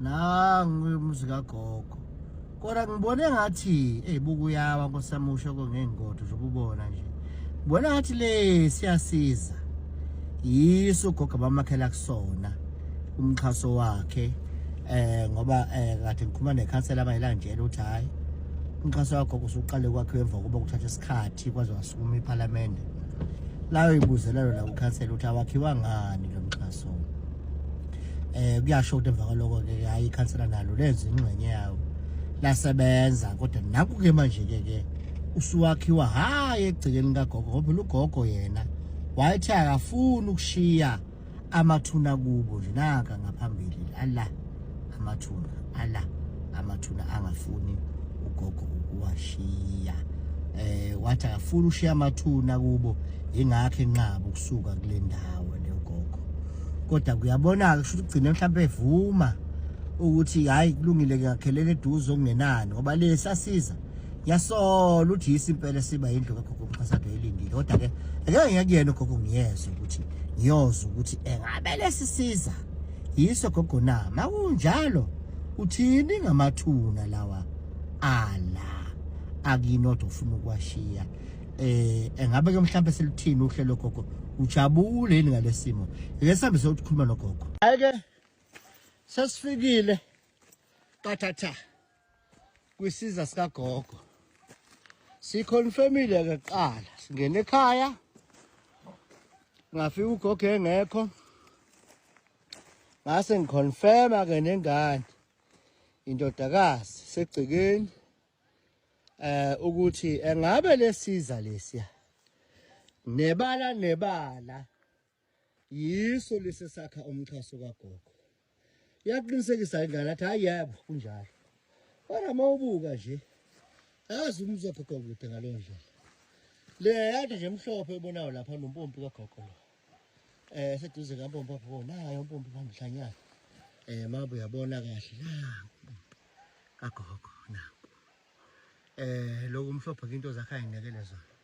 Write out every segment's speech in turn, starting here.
nangu umuzi kagogo kodwa ngibone ngathi eyi bukuyawa nkosamusho kongey'ngodo zokubona nje ngibona ngathi le siyasiza yiso ugogo abamakhela kusona umxhaso wakhe eh ngoba eh kade ngikhuluma nekhansela abayilandela ukuthi hayi umxhaso wakho kusuqale kwakhe emva kokuba kuthatha isikhathi kwaze wasukuma iphalamende layo ibuzelelo la ukhansela ukuthi awakhiwa ngani lo mxhaso eh kuyasho ukuthi emva kwaloko ke hayi ikhansela nalo lenza ingxenye yawo lasebenza kodwa naku ke manje ke ke usuwakhiwa hayi egcikeni kagogo ngoba lugogo yena wayethi akafuni ukushiya amathuna kubo nje naka ngaphambili Allah amathuna ala amathuna angafuni ugogo ukuwashiya eh wathi akafuni ushiya amathuna kubo ingakho enqaba ukusuka kule ndawo le ugogo kodwa kuyabonaka ukuthi ugcine mhlawumbe evuma ukuthi hayi kulungile ngiyakhelela eduze okungenani ngoba le sasiza yasola ukuthi yisi impela siba indlu kagogo mxhasado elindile kodwa ke ngeke ngiyakuyena ugogo ngiyezwe ukuthi ngiyoza ukuthi engabe lesisiza Yiso gogo na makunjalo uthini ngamathuna lawa ala akinodwa ufuna ukwashiya eh engabe ke mhlawumbe selithini uhlelo gogo ujabule yini ngalesimo ngeke sihambe sokukhuluma nogogo ake sesifikile kathatha kwisiza sikagogo siconfirmile kuqala singena ekhaya ngafika ugogo engekho ngase ngiconfirma ke nengane indodakazi segcikeni eh ukuthi engabe lesiza lesiya nebala nebala yiso lesi sakha umxhaso kagogo iyaqinisekisa ingane athi hayi yebo kunjalo kodwa uma ubuka nje yazi umuzwa gogo kude ngaleyo ndlela le yade nje emhlophe ebonayo lapha nompompi kagogo lo eh seduze kampompi apho nayo umpompi phambilanyana eh mabu uyabona kahle la kagogo na eh lokumhlophe into zakhe ayinekele zona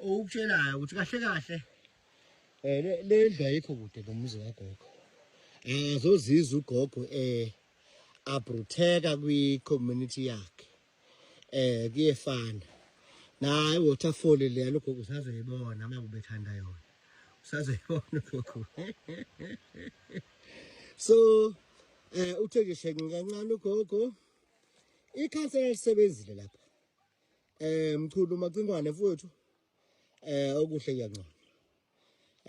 okutshelayo ukuthi kahle kahle Eh le le ndlu ayikho kude nomuzi kagogo. Eh zozizwa ugogo eh abrutheka kwi community yakhe. Eh kuyefana. Naye waterfall le logogo usazoyibona uma kubethanda yona. Usazoyibona ugogo. So eh uthe nje shenge kancane ugogo. Ikhansela lisebenzile lapha. Eh mchulu macingwane mfowethu. eh okuhle kuyanconywa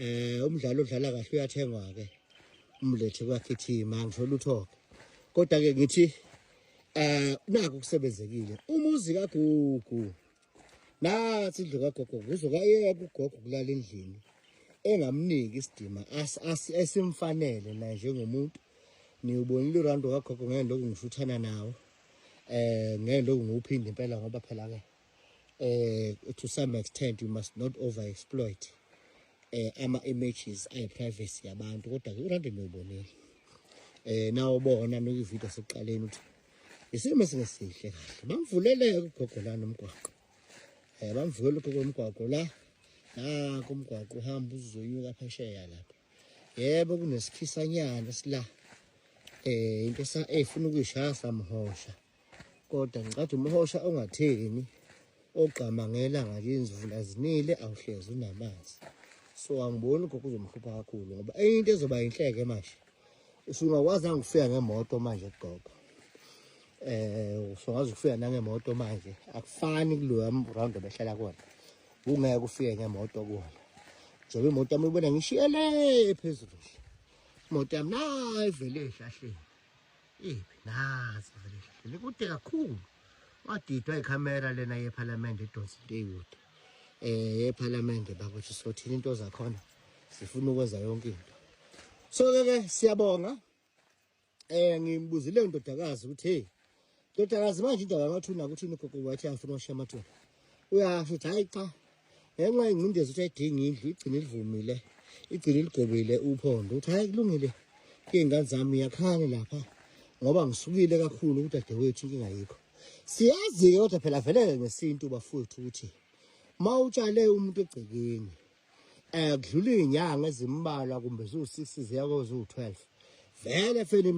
eh umdlalo odlala kahle uyathengwa ke umlethe kwakithima ngisho lutho ke kodwa ke ngithi eh naku kusebenzekile umuzi kagugu nathi indlu kagogo kuzokayeka ugogo kulala endlini engamniki isidima esimfanele naye njengomuntu niwubonile urando kagogo ngeke lokhu ngishuthana nawo eh ngeke lokhu ngiwuphinde impela ngoba phela ke or to some extent you must not over exploit eh ama images ay privacy yabantu kodwa ke urande nobonile eh nawo bona no ivideo sokuqaleni ukuthi isimo singesihle kahle bamvulele ugogo la nomgwaqo eh bamvulele ugogo nomgwaqo la la kumgwaqo uhamba uzoyuka phesheya lapha yebo kunesikhisanyana sila eh into esa efuna eh, ukuyishaya samhosha kodwa ngicatha umhosha ongatheni ogqamangela ngakini zivula zinile awuhlezi unamanzi so angiboni lokho kuzomhlupha kakhulu ngoba enye into ezoba yinhleke manje usungakwazi angifika ngemoto manje gogo eh usungakwazi ukufika nangemoto manje akufani kuloya round obehlala kona ungeke ufike ngemoto kona njengoba imoto yami ibona ngishiyele phezulu imoto yami nayi vele ehlahleni Ibi nazi vele ngihlale kude kakhulu. Wadidwa ikhamera lena yeParliament edonsa into eyikude. Eh yeParliament bakuthi sothini into zakhona. Sifuna ukwenza yonke into. So ke ke siyabonga. Eh ngimbuzile indodakazi ukuthi hey ndodakazi manje indaba yamathuna ukuthi ugogo wathi afuna ukushiya amathuna. Uyasho ukuthi hayi cha ngenxa yengcindezi ukuthi ayidingi indlu igcine ilivumile igcine iligobile uphondo ukuthi hayi kulungile iy'ngane zami iyakhane lapha ngoba ngisukile kakhulu udadewethu inkinga yikho siyazi-ke kodwa phela veleke ngesintu bafowethu ukuthi uma utshale umuntu egcekeni um kudlula iy'nyanga ezimbalwa kumbe ziwu-six ziya koziwu-twelve vele fele